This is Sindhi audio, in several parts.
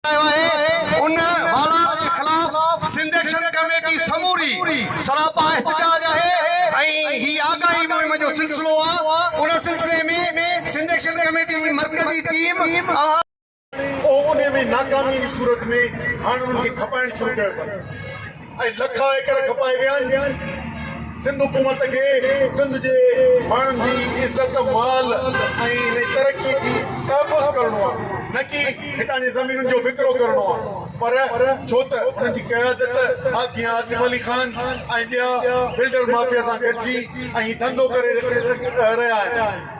ڪيو آهي ان والار جي خلاف سنڌ ايڪشن ڪميٽي سموري سراپا احتجاج آهي ۽ هي آگاهي مهم جو سلسلو آ ان سلسلي ۾ سنڌ ايڪشن ڪميٽي جي مرڪزي ٽيم اوهان اهو انهي ۾ ناڪامي جي صورت ۾ هاڻ انهن کي کپائڻ شروع ڪيو اٿن. ۽ لکا ايڪڙ کپائي ويا آهن، سنڌ حڪومت کي سنڌ جي ماڻهن جي عزت، مال ۽ انهي ترقي جي تحفظ ڪرڻو آهي نه ڪي هتان جي زمينن جو وڪرو ڪرڻو آهي پر ڇو ته انهن جي قيادت حاجي ميان آصف علي خان ۽ ٻيا بلڊر مافيا سان گڏجي اهي ڌنڌو ڪري رهيا آهن.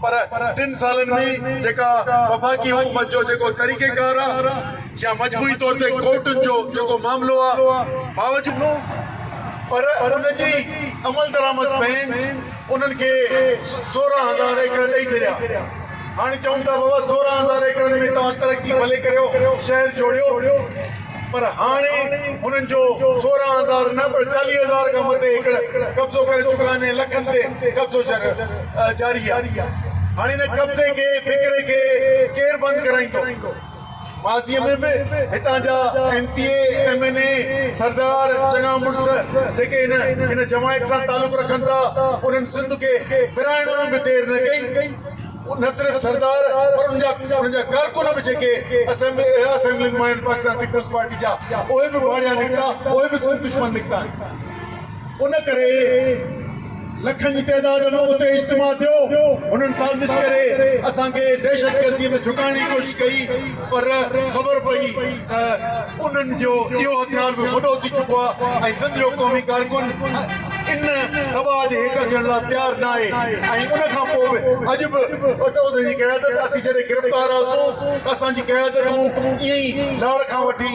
پر ٽن سالن ۾ جيڪا وفاقي حڪومت جو جيڪو طريقيڪار آ يا مجموعي طور تي ڪورٽن جو جيڪو معاملو آ باوجود پر ان جي عملدرآمد بئنچ انهن کي سورهن هزار ايڪڙ ڏئي ڇڏيا هاڻي چون ٿا بابا سورهن هزار ايڪڙن ۾ توهان ترقي ڀلي ڪريو شهر جوڙيو پر هاڻي هنن جو سورهن هزار نه پر چاليهه هزار کان مٿي ايڪڙ قبضو ڪري چڪا آهن ۽ لکن تي قبضو جاري آهي. هاڻي ان قبضي کي وڪري کي ڪير بند ڪرائيندو؟ ماضيء ۾ به هتان جا M P A, M N A, سردار چڱا مڙس جيڪي هن جماعت سان تعلق رکن ٿا انهن سنڌ کي ورهائڻ ۾ به دير نه ڪئي. اهو نه صرف سردار پر ان جا ڪارڪن به جيڪي اسيمبلي اها اسيمبلي مان آهن پاڪستان پيپلز پارٽي جا اهي به ڀاڙيا نڪتا اهي به سنڌ دشمن نڪتا آهن ان ڪري لکن جي تعداد ۾ اتي اجتماع ٿيو انهن سازش ڪري اسان کي دهشتگردي ۾ جهڪائڻ جي ڪوشش ڪئي پر خبر پئي ته انهن جو اهو هٿيار به وڏو ٿي چڪو آهي ۽ سنڌ جو قومي ڪارڪن ان دٻاء جي هيٺ اچڻ لاء تيار ناهي ۽ ان کان پوء به اڄ به انهن جي قيادت اسين جڏهن گرفتار هئاسون ته اسان جي قيادتون ائين ئي لاڙ کان وٺي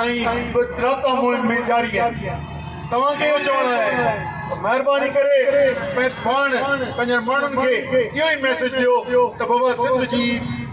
۽ به رابطا مهم ۾ جاري آهن توهان کي اهو چوڻ آهي ته مهرباني ڪري پاڻ پنهنجن ماڻهن کي اهو ئي ميسيج ڏيو ته بابا سنڌ جي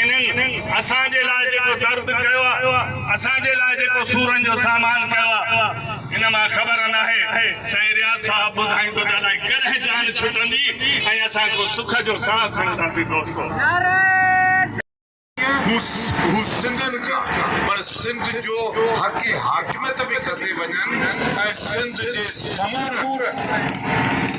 انهن اسان جي لاء جيڪو درد ڪيو آ، اسان جي لاء جيڪو سورن جو سامان ڪيو آ، ان مان خبر ناهي سائين رياض صاحب ٻڌائين تو ته الائي ڪڏهن جان ڇٽندي ۽ اسان ڪو سک جو ساهه کڻنداسين دوستو. هو سنڌين ڪا پر سنڌ جو حق حاڪميت به کسي وڃن ۽ سنڌ جي سمورن.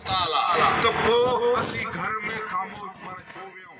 ته پوء اسين گهر ۾ خاموش ٻر ڇو ويهون؟